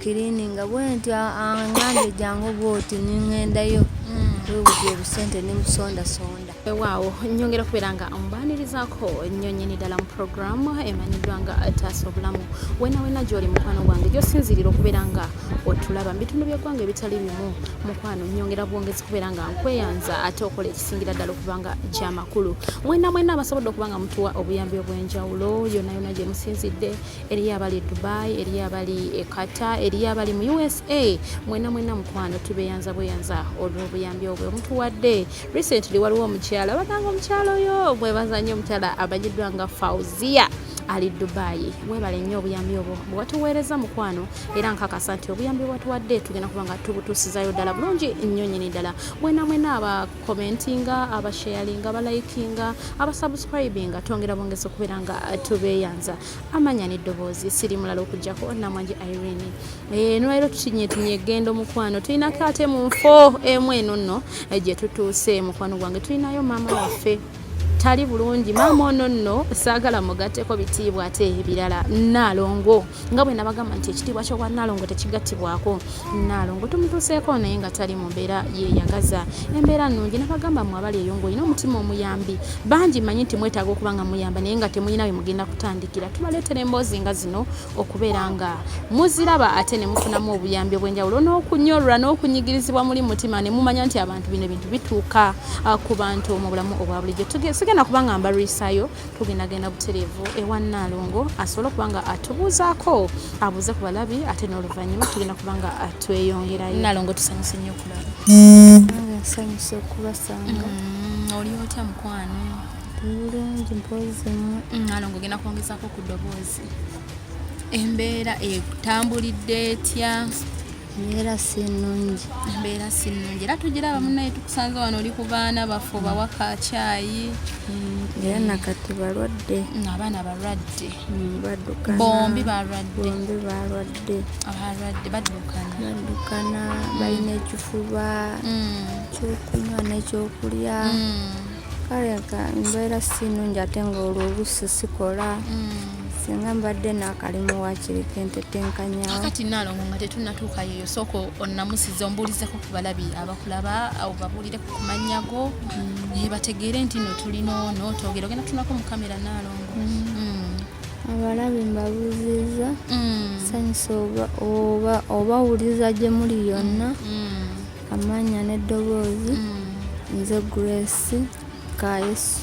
kirini nga bwenti angambye jangu bwoti ningendayo webuza mm. obusente nimusondasonda waawo nyongera okubeera nga mbaanirizaako nnyo nyini ddala mu puroguramu emanyiddwa nga taasa obulamu wena wena gyoli mukwano gwange gyosinzirira okubeera nga otulaba mu bitundu byeggwanga ebitali bimu mukwano nyongera bwongezi kubeera nga nkweyanza ate okola ekisingira ddala okuba nga kyamakulu mwena mwena abasobodde okuba nga mutuwa obuyambi obw'enjawulo yonayona gyemusinzidde eriyo abali e dubai eriyo abali e qatar eriyo abali mu usa mwena mwena mukwano tubeyanza bweyanza olwobuyambi obwe omutuwadde recently waliwo omukyala bananga omukyala oyo mwebaza nnyo omukyala amanyiddwa nga fauzia ali dubayi webale nnyo obuyambi obwo bwewatuweereza mukwano era nkakasa nti obuyambi bwatuwadde tugenda kuba nga tubutuusizayo ddala bulungi nnyo nyini ddala mwena mwena abakomentinga abasharinga abalayikinga abasubscribinga twongera bongezi okubeera nga tubeyanza amanya neddoboozi siri mulala okujjako namwanji irene eh, nolwaliro tutinyetinye egendo mukwano tulinako ate mu nfo emu eno nno eh, gye tutuuse mukwano gwange tulinayo maama waffe tali bulungi maama ono nno saagala mugatteko bitiibwa ate ebirala naalongo nga bwe nabagamba nti ekitiibwa ky'obwa naalongo tekigattibwako Nnaalongo tumutuuseeko naye nga tali mu mbeera yeeyagaza embeera nnungi nabagamba mwe abali eyo ng'olina omutima omuyambi bangi manyi nti mwetaaga okuba nga muyamba naye nga temulina bye mugenda kutandikira tubaleetera emboozi nga zino okubeera nga muziraba ate ne mufunamu obuyambi obw'enjawulo n'okunyolwa n'okunyigirizibwa muli mutima ne mumanya nti abantu bino ebintu bituuka ah, ku bantu mu bulamu obwa bulijjo sigenda kuba nga mbalwisaayo tugendagenda butereevu ewa nnaalongo asobole okuba nga atubuuzaako abuuze ku balabi ate n'oluvannyuma tugenda kuba nga tweyongerayo nnaalongo tusanyuse nnyo okulaba nsanyuse okubasanga mm, oli otya mukwano bulungi mpozi nnaalongo mm, ogenda kwongezaako ku ddoboozi embeera etambulidde etya embeera si nnungi embeera si nnungi era tugira abamu naye tukusanze wano oli ku baana baffe obawa ka kyayi mm, era nakati balwadde mm, abaana balwadde mm, badukana bombi balwadde bombi balwadde abalwadde badukana badukana balina ekifuba kyokunywa nekyokulya kale embeera si nnungi ate ngaolwo oluusi sikola mm. singa mbadde nakalimu wakiriko entetenkanyaakati nalongo nga tetunatuuka yeyo sooka onamusiza ombuulizeko ku balabi abakulaba awo babuulire ku kumanyago mm. naye bategeere nti no tulina ono twogere ogenda tunako mu kamera nalongo mm. mm. abalabi mbabuuziza sanyusa oba owuliza gye muli yonna Amanya n'eddoboozi mm. nze Grace Kayesu.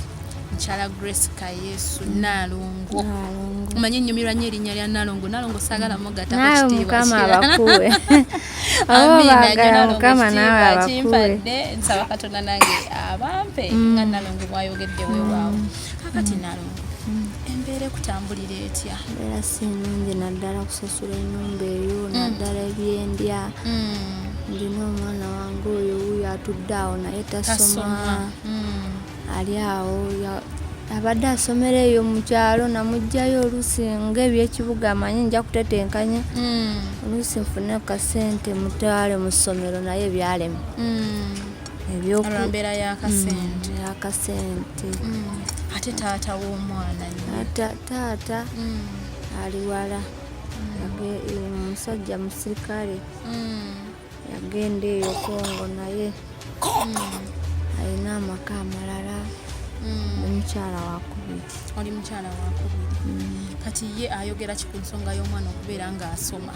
Mukyala Grace Kayesu mm. Nalongo. Nalongo. Omanyi ennyumirwa nnyo erinnya lya Nalongo. Nalongo saagala mm. mugatta ku kitiibwa. Nawe Mukama abakuwe. Amiina nnyo Nalongo kitiibwa kimpadde nsaba Katonda nange abampe nga Nalongo bwayogedde weewaawo. Kakati Nalongo embeera ekutambulira etya mbeera si nnungi naddala kusasula ennyumba eyo naddala ebyendya ndina omwana wange oyo wuyo atudde awo naye tasoma hmm. ali awo abadde asomera eyo mu kyalo namugjayo oluusi ngaebyekibuga amanyi nja kutetenkanya hmm. oluusi nfune kasente mutwale mu ssomero naye byalema olwambeera yakasente mm, yakasente mm. ate taata womwana taata mm. ali wala omusajja musirikale yagenda eyo kongo naye alina amaka amalala omukyala wakubiri oli mukyala wakubiri kati ye ayogera ki ku nsonga y'omwana okubeera ng'asoma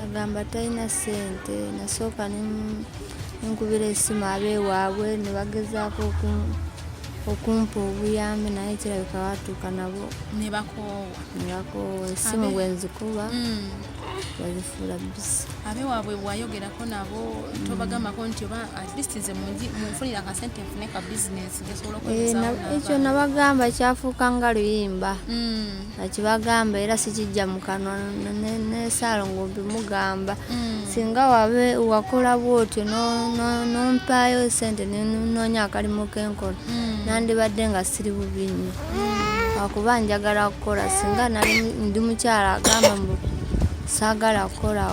agamba talina ssente nasooka nkubira esimu abeewaabwe ne bagezaako okumpa obuyambi naye kirabika batuuka nabo nebakoowa nebakoowa esimu bwenzikuba mm. babifuula bisi abe waabwe wayogerako nabo tobagambako nti oba at least nze munfunira akasente nfune ka bizinesi gesobola eh, ekyo nabagamba kyafuuka nga luyimba hmm. akibagamba era sikijja mu kanwa nesaalo ngumbi mugamba hmm. singa wabe wakola bwotyo nompaayo sente nenoonya akalimu kenkola hmm. nandibadde nga siri bubi nnyo akuba njagala kukola singa nali ndi mukyala agamba mbu saagala kukola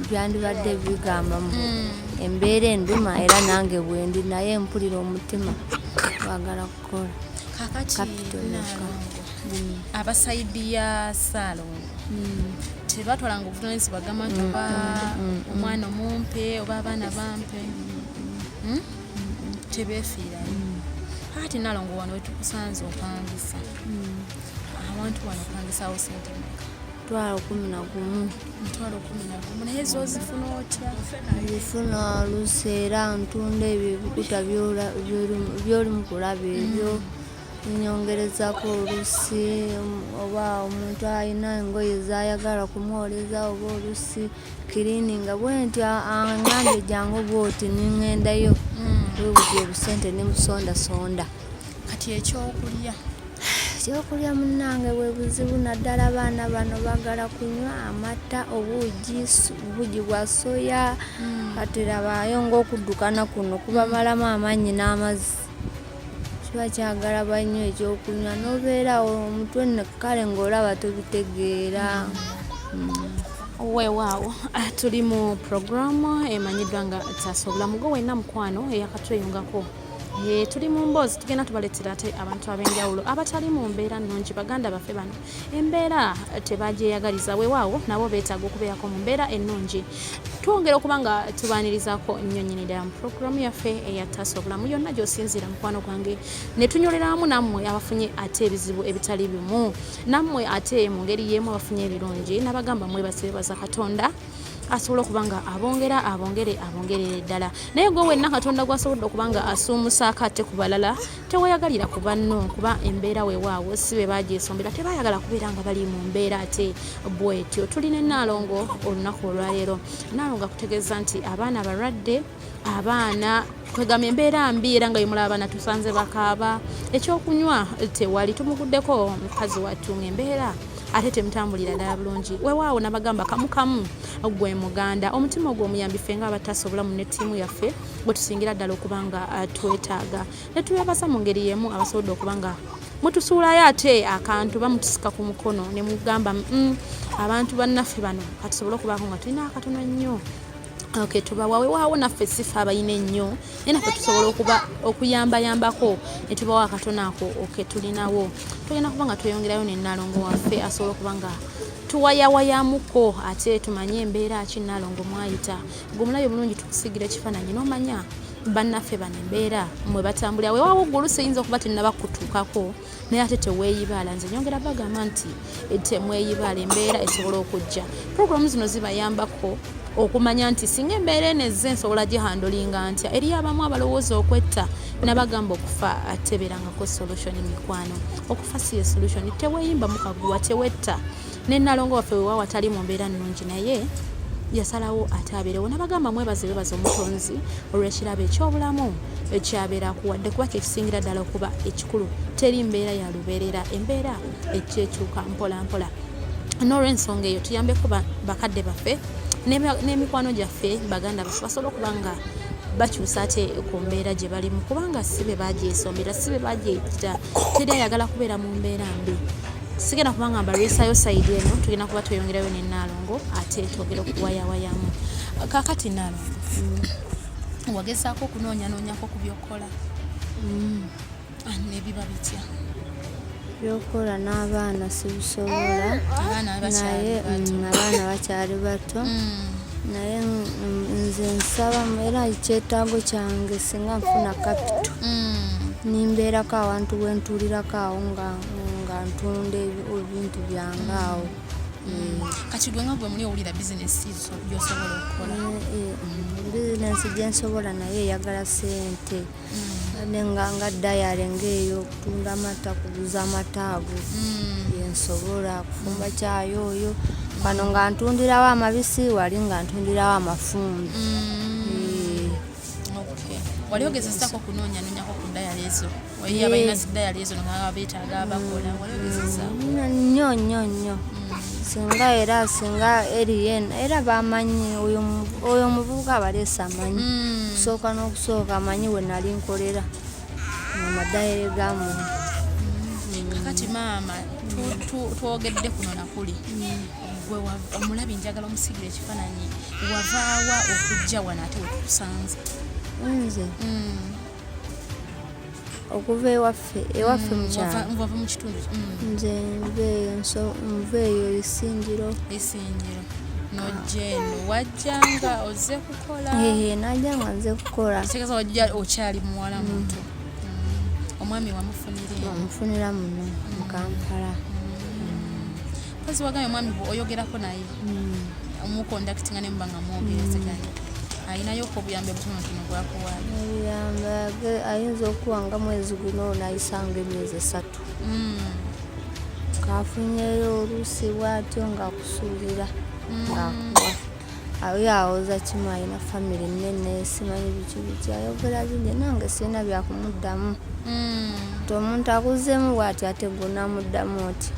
byandibadde bigamba mbu hmm. embeera enduma era nange bwendi naye mpulira omutima bagala kukola abasaidiya saalongo hmm. tebatwalanga obuvunanyizibwa agamba nti hmm, oba omwana omumpe oba abaana bampe tebefiirayo mm. ati nalongo wano wetukusanze opangisa mm. abantu wano opangisawo sente meka twalo kumi na gumu twalo kumi na gumu naye zo ozifuna otya zifuna olusi era ntunda ebyo ebikuta byoli mukulaba ebyo mm. nyongerezako olusi oba omuntu alina engoye zayagala kumwoleza oba olusi kirini nga bwenti angambye jangu bwoti ningendayo webudde mm. obusente nemusondasonda kati ekyokulya ekyokulya munange bwebuzibu naddala abaana bano bagala kunywa amata obuugi obuugi bwa soya mm. kati labayo ngaokudukana kuno kubamalamu amaanyi n'amazzi kiba kyagala banywa ekyokunywa nobeera omutwe kale ngaolaba tobitegeera mm. Weewaawo ah, tuli mu puroguramu emanyiddwa nga taasa obulamu gwe wenna mukwano eyakatweyungako eh, tuli mu mboozi tugenda tubaleetera ate abantu ab'enjawulo abatali mu mbeera nnungi baganda baffe bano embeera tebagyeyagaliza weewaawo nabo beetaaga okubeerako mu mbeera ennungi twongera okuba nga tubaanirizaako nnyo nnyini ddala mu puroguramu yaffe eya taasa obulamu yonna gy'osinziira mukwano gwange ne tunyoleramu nammwe abafunye ate ebizibu ebitali bimu nammwe ate mu ngeri y'emu abafunye ebirungi nabagamba mwebasebaza katonda asobola okuba nga abongera abongere abongerere ddala naye gwe wenna katonda gwasobodde okuba nga asuumusaako ate ku balala teweyagalira ku banno kuba embeera wewaawo si be bagyesombera tebayagala kubeera nga bali mu mbeera ate bwetyo tuli ne naalongo olunaku olwaleero naalongo akutegeeza nti abaana balwadde abaana kwegamba embeera mbi era nga yemulaba abaana tusanze bakaaba ekyokunywa tewali tumuguddeko mukazi wattu ngaembeera ate temutambulira ddala bulungi wewaawo nabagamba kamukamu gwe muganda omutima ogwo omuyambi ffe nga abatasa obulamu ne tiimu yaffe bwe tusingira ddala okuba nga uh, twetaaga ne tubebasa mu ngeri y'emu abasobodde okuba nga mutusuulayo ate akantu bamutusika ku mukono ne mugamba mm, abantu bannaffe bano katusobole okubaako nga tulina akatono nnyo Okay, tubawa wewaawo naffe sifa abayina ennyo naye naffe tusobola okuba okuyambayambako ne tubawa akatona ako oke tulinawo tugenda kuba nga tweyongerayo nenalongo waffe asobola okuba nga tuwayawayamuko ate tumanye embeera ki nalongo mwayita gwe omulabi bulungi tukusigira ekifaananyi nomanya bannaffe bano embeera mwe batambulira wewaawo gwe olusi eyinza okuba tennabakutuukako naye ate teweeyibaala nze nyongera bagamba nti eh, temweyibaala embeera esobola okujja programu zino zibayambako okumanya nti singa embeera eno ezze nsobola gihandolinga ntya eri abamu abalowooza okwetta nabagamba okufa ateberangako solution mikwano okufa si ye solution teweeyimba mukaguwa tewetta ne nalongo waffe wewawa tali mu mbeera nnungi naye yasalawo ate abeerewo nabagamba mwebaze bebaza omutonzi olwekirabo ekyobulamu ekyabeera kuwadde kuba kyekisingira ddala okuba ekikulu teri mbeera ya lubeerera embeera ekyekyuka mpolampola nolwensonga eyo tuyambeko bakadde baffe n'emikwano gyaffe baganda baffe basobole okuba nga bakyusa ate ku mbeera gye balimu kubanga si be bagyesombera si be bagyeyitira teri ayagala kubeera mu mbeera mbi sigenda kubanga mbalwisayo sayidi eno tugenda kuba tweyongerayo ne naalongo ate twogera okuwayawayamu kakati naalongo mm. wagezaako okunoonyanoonyako ku byokukola mm. ah, nebiba bitya byokukola n'abaana sibisobola naye mm, abaana bakyali bato naye nze nsaba era ekyetaago kyange singa nfuna kapito nimbeerako awantu wentuulirako awo nga nga ntunda ebintu byange awo mm. kati gwe nga gwe muli owulira bizinesi gyosobola okukola mm, eh, mm. bizinesi gyensobola naye eyagala sente nenga nga dayale ngaeyo okutunda amata kuguza amata ago yensobola kufumba kyayo oyo wano nga ntundirawo amabisi wali nga ntundirawo amafumbi wali ogezesako kunonyanyonyako ku dayali ezo waiyo abalina zidayali ezo ngaa betaaga abakola wali ogezesako nnyo nnyo nnyo singa era singa erien era bamanyi oyo omuvubuka abaleesa amanyi kusooka n'okusooka amanyi we nali nkolera amadayale ga muntu kati maama twogedde kuno nakuli gwe omulabi njagala omusigira ekifaananyi wavaawa okujja wano ate wetukusanze nze mm. okuva ewaffe ewaffe mm, mukyalwava mu kitundu mm. nze nveeyo nso nveeyo esingiro esingiro nojeno wajjanga oze kukola najjanga nze kukola kitegeeza wajja okyali muwala muto omwami wamufunira wamufunira muno mukampala mm. Kazi wagambye mwami gwe oyogerako naye hmm. omukondakitinga ne muba nga mwogerezeganya hmm. alinayo ko obuyambi obutonotono bwakuwaayo obuyambi ayinza okuwa nga mwezi guno nayisanga emyezi esatu hmm. kafunyeyo oluusi bwatyo ngaakusuubira ngaakuwa ayo awoza kimu alina famire nene simanyi biki biki ayogera bingi nange sirina byakumuddamu nti omuntu akuzeemu bwati ate gwe namuddamu nti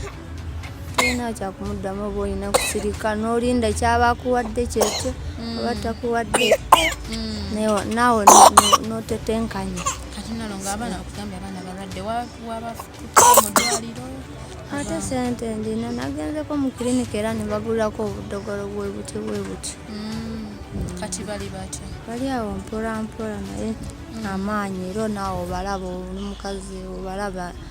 tolina kyakumuddamu oba olina kusirika n'olinda kyaba akuwadde kyekyo mm. oba takuwadde mm. naawe notetenkanya ate sente ndina nagenzeko mu kilinika era ne bagulako obudogolo bwe butyo bwe butyo mm. kati bali batya bali awo mpolampola naye amaanyi era naawe obalaba oli mukazi obalaba mm.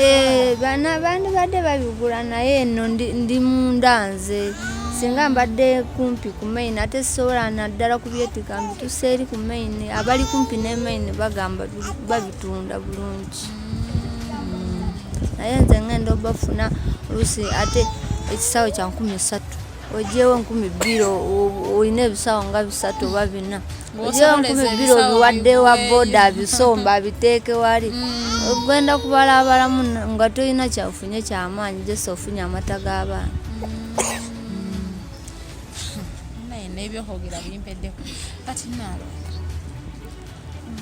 Eh, bana bandi badde babigula naye eno ndi munda nze singa mbadde kumpi ku main ate sisobola naddala kubyetika mbitusa eri ku main abali kumpi ne main bagamba babitunda bulungi mm. naye nze ngenda obafuna olusi ate ekisawo kya nkumi satu ojewo nkumi bbiri olina ebisawo nga bisatu oba bina byonkuma ebbiro biwadde wa boda abisomba abiteeke wali mm. ogenda kubalaabalamu nga tolina kyafunye kyamaanyi jose ofunye amata g'abaana mm. nebyohogera bimpeddeko kati naalo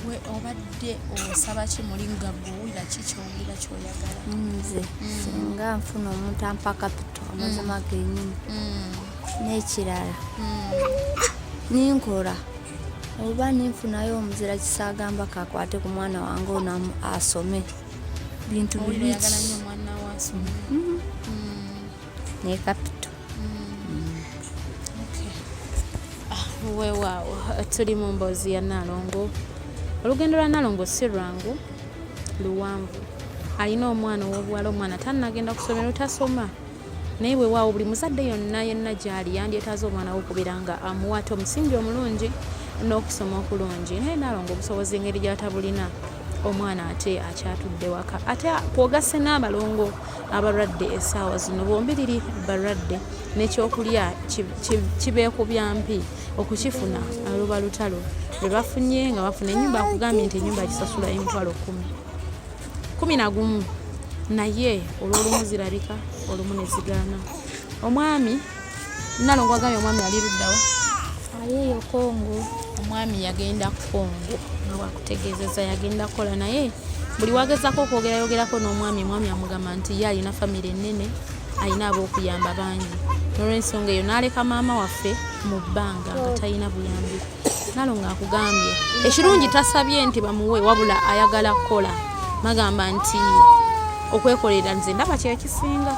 gwe obadde osaba ki muli nga gwowulira ki kyowulira kyoyagala nze mm. singa nfuna omuntu ampa kapito amazima genyini n'ekirala hmm. ninkola oba ninfunayo omuzira kisagamba kakwate ku mwana wange ono asome bintu bibiki hmm. ne kapito ah, wewaawo tuli mu mboozi ya nalongo olugendo lwa nalongo si lwangu luwanvu alina omwana ow'obuwala omwana tannagenda kusomero tasoma naye wewaawo buli muzadde yonna yenna gyali yandyetaaza omwana we okubeera nga amuwaata omusingi omulungi n'okusoma okulungi naye naalonga obusobozi engeri gyatabulina omwana ate akyatudde waka ate kwogasse n'abalongo abalwadde esaawa zino bombiriri balwadde nekyokulya kibeekubya mpi okukifuna aluba lutalo lwebafunye nga bafuna enyumba akugambye nti enyumba kisasula emitwalo kumi kumi na gumu naye olwolumu zirabika olumu ne zigaana omwami nalongo agambye omwami ali luddawa ayeeyo kongo omwami yagenda kongo nga wakutegeezeza yagenda kukola naye buli wagezako okwogera yogerako n'omwami omwami amugamba nti ye alina famire ennene alina ab'okuyamba bangi nolwensonga eyo n'aleka maama waffe mu bbanga nga talina buyambiko nalongo akugambye ekirungi tasabye nti bamuwe wabula ayagala kukola magamba nti okwekolera nze ndaba kyekisinga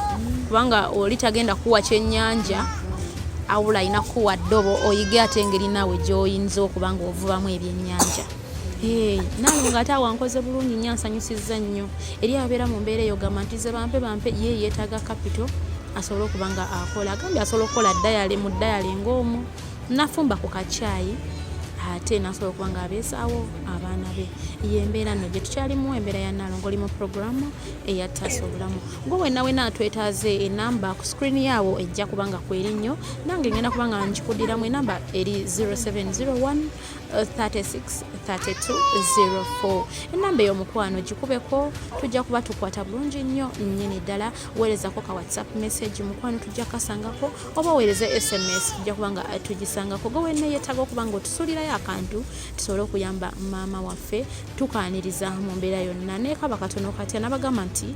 kubanga oli tagenda kuwa kyenyanja awula alina kuwa ddobo oyige ate engeri naawe gyoyinza okuba nga ovubamu ebyenyanja nalongo ate awankoze bulungi nyo ansanyusiza nnyo eri abeera mu mbeera eyo gamba nti ze bampe bampe ye yeetaaga kapito asobole okuba nga akola agambye asobola okukola dayale mu dayale ngaomu nafumba ku kakyayi ate nasobola okuba nga abeezaawo abaana be yembeera no gye tukyalimu embeera ya nalongo oli mu puroguramu eyataasa obulamu gwe wenawena atwetaaze enamba ku screen yaawo ejja kuba nga kweri nnyo nange ngenda kuba nga nkikudiramu enamba eri 0701 363204 enamba eyo mukwano gikubeko tujja kuba tukwata bulungi nnyo nnyini ddala weerezako ka whatsapp message mukwano tujja kasangako oba oweereze sms tujja kuba nga tugisangako gwe wenna yeetaaga okuba nga otusuulirayo akantu tusobole okuyamba maama waffe tukaaniriza mu mbeera yonna nekaba katono katya nabagamba nti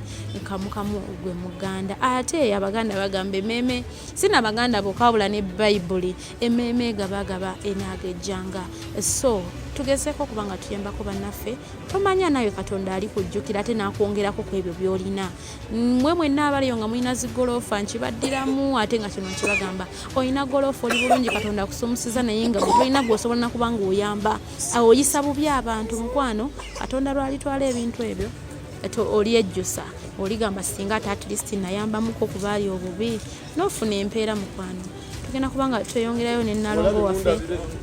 kamukamu gwe muganda ate abaganda bagamba emeeme sina abaganda bokawula ne bayibuli emeeme gabagaba enaaga ejjanga so tugezeeko okuba nga tuyambako bannaffe tomanya naawe katonda ali kujjukira ate n'akwongerako ku ebyo by'olina mwe mwenna abaliyo nga mulina zigoloofa nkibaddiramu ate nga kino nkibagamba olina goloofa oli bulungi katonda akusumusiza naye nga tolina gweosobola nakuba nga oyamba oyisa bubi abantu mukwano katonda lwalitwala ebintu ebyo olyejjusa oligamba singa ate atlist nayambamuko kubaali obubi n'ofuna empeera mukwano tugenda kubanga tweyongerayo ne nalongo waffe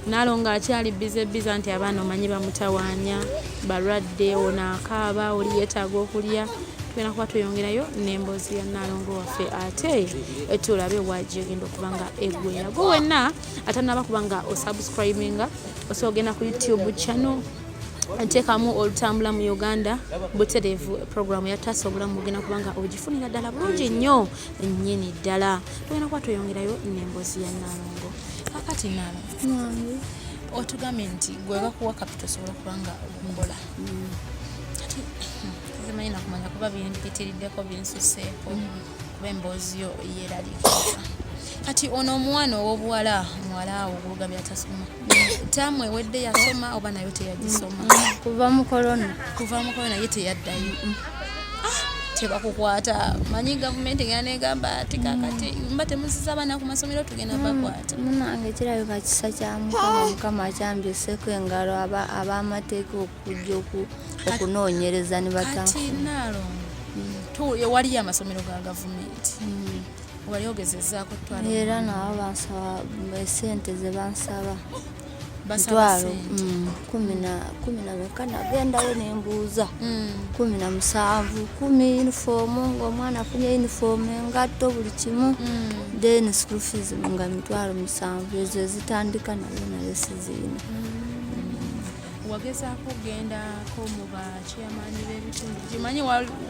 nalongo akyali bize biza nti abaana omanyi bamutawaanya balwadde ono akaaba oli yeetaaga okulya tugenda kuba tweyongerayo n'emboozi ya nalongo waffe ate etulabe waji egenda okuba nga egwera gwe wenna atanaba kuba nga osubscribinga osobola ogenda ku youtube channel nteekamu olutambula mu uganda butereevu programu yataasa obulamu bugenda kubanga ogifunira ddala bulungi nnyo ennyini ddala tugenda kuba tweyongerayo n'emboozi ya nalongo kakati nalo otugambye nti gwe bakuwa kapita osobola kuba nga ombola mm. kati hmm, zimanyi nakumanya kuba bimpitiriddeko binsuseeko mm. kuba emboozi yo yeraliikiriza kati ono omwana ow'obuwala muwala awo oguluga byatasoma taamu ewedde yasoma oba nayo teyagisoma kuva mu korona kuva mu korona ye teyaddayo tebakukwata manyi gavumenti egenda negamba ati kakati mm. mba temuziza abaana ku masomero tugenda mm. bakwata munange kirabika kisa kya mukama mukama akyambyuseko engalo abamateeka okujja okunoonyereza ne bataafu mm. waliyo amasomero ga gavumenti wali ogezezaako twala era nabo bansaba esente ze bansaba mitwalo mm, kumi na meka nagendayo nembuuza mm. kumi na musanvu kumi yunifoomu ngaomwana afunye yunifoomu engatto buli kimu mm. then school fees nga mitwalo musanvu ezo ezitandika nayo nayo sizirina wagezaako okugendako mu bakyamaanyi b'ebitundu kimanyi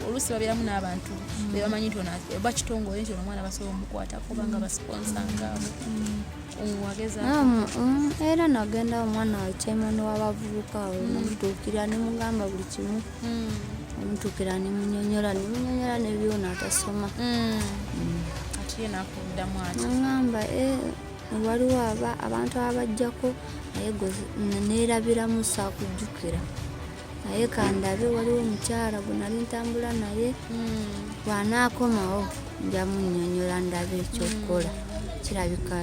oluusi babeeramu n'abantu mm. bebamanyi nti oba kitongole nti omwana basobola omukwata kuba nga basiponsa ngaabo era nagenda omwana wakyemani wabavubuka omutuukira mm. nemugamba buli kimu mm. omutuukira nemunyonyola nemunyonyola nebyona atasoma ati ye nakuddamu ati agamba eh, waliwo aba abantu abajjako naye neerabiramu saakujjukira naye kandabe waliwo omukyala gwe nali ntambula naye hmm. bwanaakomawo njamunyonyola ndabe ekyokukola hmm. kirabika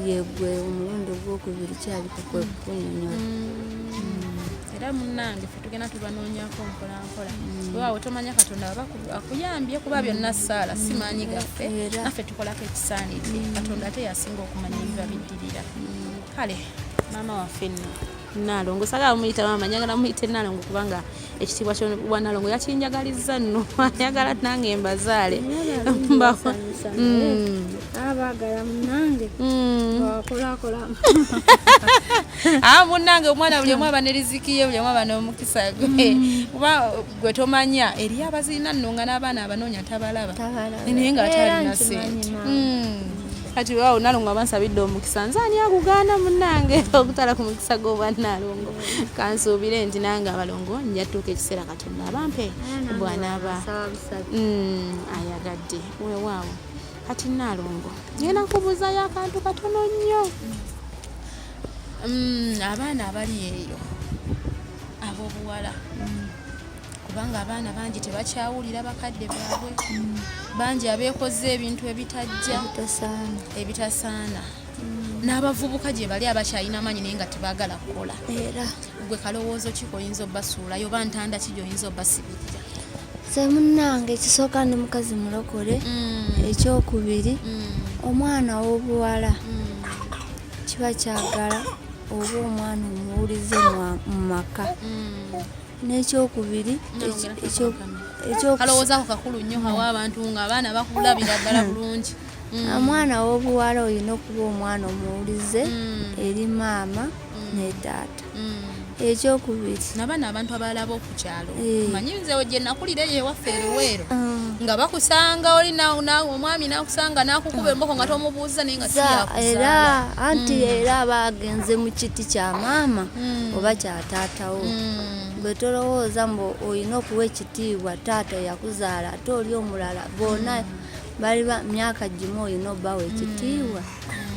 yegwe omulundi ogwokubiri kirabika kwe hmm. kukunyonyola era munange fe tugenda tubanoonyako mpola kukola mm. waawo tomanya katonda aba akuyambye kuba byonna saala si mm. maanyi gaffe naffe tukolako ekisaanidde mm. katonda ate yasinga okumanya ebiba biddirira kale maama waffe nno nalongo sagala muyita maama njagala muyite nalongo kubanga ekitiibwa kyowa nalongo yakinjagaliza nno ayagala nange mbazaale abagala munange hmm. wakolakola ah, munange omwana buli omu aba ne riziki ye buli omu aba n'omukisa gwe hmm. kuba gwe tomanya eri abazirina nno nga n'abaana abanoonya tabalaba naye nga atalina sente hmm. kati awo nalongo abansabidde omukisa nze ani akugaana munange okutala ku mukisa gw'obwanalongo kansuubire nti nange abalongo njatuuka ekiseera katonda abampe bwanaba ayagadde wewaawo kati naalongo ngenda kubuuzayo akantu katono nnyo mm, abaana abali eyo ab'obuwala mm. kubanga abaana bangi tebakyawulira bakadde baabwe mm. bangi abeekoze ebintu ebitajja ebitasaana n'abavubuka gye bali abakyalina amaanyi naye nga tebagala kukola gwe kalowoozo ki koyinza obasuulayo oba ntanda ki gyoyinza obasibirira se munnange ekisooka ndi mukazi mulokole mm. ekyokubiri mm. omwana w'obuwala mm. kiba kyagala oba omwana omuwulize mu maka n'ekyokubiri ekyokualowoozaako kakulu nnyo hawa abantu nga abaana bakulabira ddala bulungi omwana w'obuwala olina okuba omwana omuwulize eri maama ne taata ekyokubiri nabaana abantu abalaba okukyalo eh. manyi nzewo gye nakulira eyo ewaffe eruweero ah. nga bakusanga oli omwami nakusanga nakukuba emboko nga tomubuuza naye nga era anti hmm. era bagenze mu kiti kya maama hmm. oba kya taatawo hmm. gwe tolowooza mbu olina okuwa ekitiibwa taata yakuzaala ate oli omulala bona bali myaka gimu olina obbawa ekitiibwa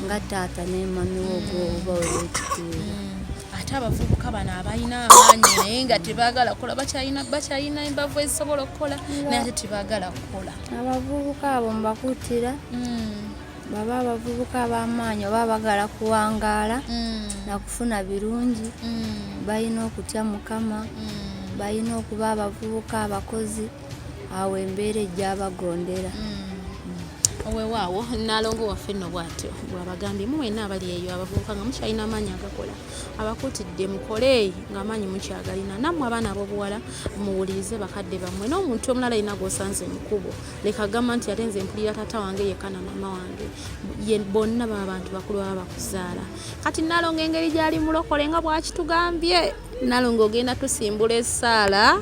nga taata ne mami wo gwoba olwekitiibwa ate abavubuka bano abalina amaanyi naye nga tebagala kola bakyalina bakyalina embavu ezisobola okukola naye ate tebagala kukola abavubuka abo mbakuttira hmm. baba abavubuka ab'amaanyi oba bagala kuwangaala hmm. nakufuna birungi hmm. balina okutya mukama balina okuba abavubuka abakozi awo embeera ejjabagondera mm. wewaawo nalongo waffe nno bwatyo bwabagambye mu wena abali eyo abavubuka nga mukyalina amaanyi agakola abakutidde mukole nga amaanyi mukyagalina nammwe abaana abobuwala muwulirize bakadde bammwe n'omuntu omulala yina gwosanze mukubo leka gamba nti ate nze mpulira tata wange yekka na maama wange bonna baba bantu bakulu baba bakuzaala kati nalongo engeri gyali mulokole nga bwakitugambye nalongo ogenda tusimbula esaala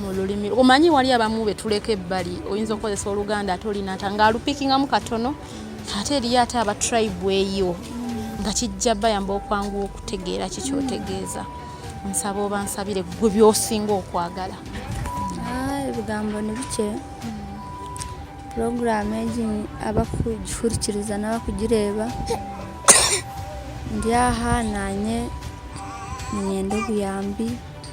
mu lulimi omanyi wali abamu betuleka ebbali oyinza okukozesa oluganda ate olinata nga alupikingamu katono ate eriyo ate aba tribe eyo nga kijja bayamba okwanguwa okutegeera kikyotegeeza nsaba oba nsabire gwe byosinga okwagala ah, ebigambo nibikye puroguramu egi abakugihurikiriza n'abakugireeba ndi aha nanye ninyenda obuyambi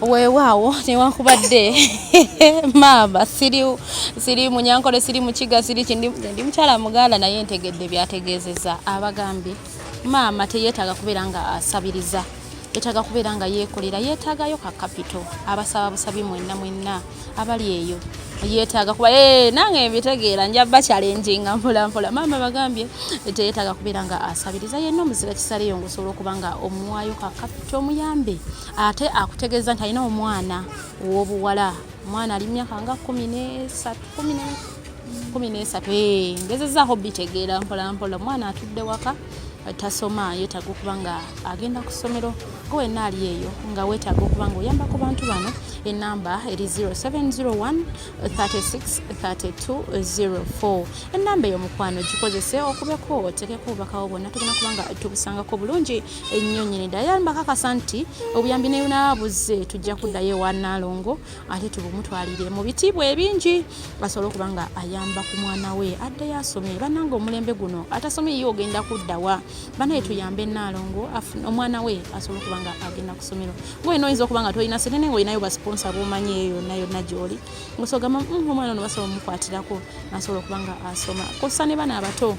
weewaawo newankubadde maama siri siri munyankole siri mukiga siri kindi ndi mukyala muganda naye ntegedde byategeezeza abagambye maama teyeetaaga kubeera nga asabiriza yeetaaga kubeera nga yeekolera yeetaagayo ka kapito abasaba busabi mwenna mwenna abali eyo yetaaga kuba ee eh, nange mbitegeera nja bakyalenjinga mpola mpola maama bagambye teyetaaga kubeera nga asabiriza yenna omuzira kisaleyo ngaosobola okuba nga omuwayo kakapita omuyambe ate akutegeeza nti alina omwana owobuwala omwana ali mumyaka nga kumi nesatu kumi kumi n'esatu eh, ngezezaako bitegeera mpolampola omwana atudde waka tasoma yetaaga okuba nga agenda ku ssomero ko wenna ali eyo nga wetaaga okuba nga oyamba ku bantu bano enamba eri 0701363204 enamba eyo mukwano gikozese okubeko otekeko obubakawo bwonna tugenda kuba nga tubusangako bulungi ennyo nyini ddala yamba kakasa nti obuyambi nebunabuze tujja kuddayo ewa naalongo ate tubumutwalire mu bitiibwa ebingi asobole okuba nga ayamba ku mwana we addeyo asome banange omulembe guno atasome ye ogenda kuddawa banaye tuyambe naalongo omwana we asobole okuba nga agenda ku somero ngaolina oyinza okuba nga tolina sente naye ngaolinayo basiponsa bomanyi eyo yonna yonna gyoli ngosogamba mm, omwana ono basobola omukwatirako nasobola okuba nga asoma kosa ne bana abato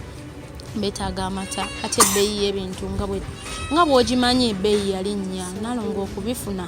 betaaga amata ate ebbeeyi y'ebintu nga bw'ogimanyi ebbeeyi yalinnya nalonga okubifuna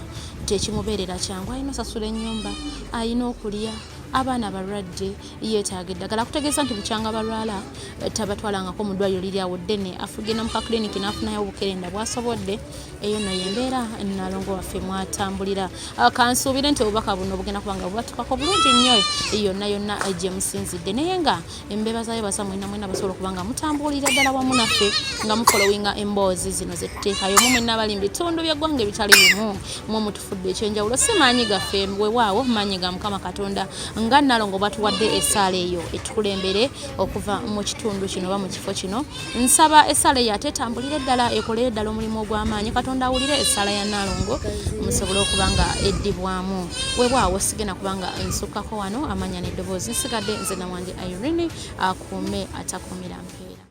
kyekimubeerera kyangu alina osasula ennyumba alina okulya abaana balwadde yeetaaga eddagala kutegeeza nti bukyanga balwala eh, tabatwalangako mu ddwaliro liri awo ddene afugenda mu kakiliniki n'afunayo obukerenda bwasobodde eyo no yembeera nalongo waffe mwatambulira ah, kansuubire nti obubaka buno bugenda kuba nga bubatukako bulungi nnyo yonna yonna eh, gye musinzidde naye nga embeeba za yebaza mwena mwena basobola okuba nga mutambuulira ddala wamu naffe nga mufolowinga emboozi zino zetuteekayo mu mwena abali mu bitundu byeggwanga ebitali bimu mwe mutufudde ekyenjawulo si maanyi gaffe wewaawo maanyi ga mukama katonda nga nalongo batuwadde esaala eyo etukulembere okuva mu kitundu kino oba mu kifo kino nsaba essala eyo ate etambulire ddala ekolere ddala omulimu ogw'amaanyi katonda awulire essala ya naalongo musobole okuba nga eddibwamu webwawo sigenda kubanga nsukkako wano amanya n'eddoboozi nsigadde nze nawanje irene akuume atakuumira mpeera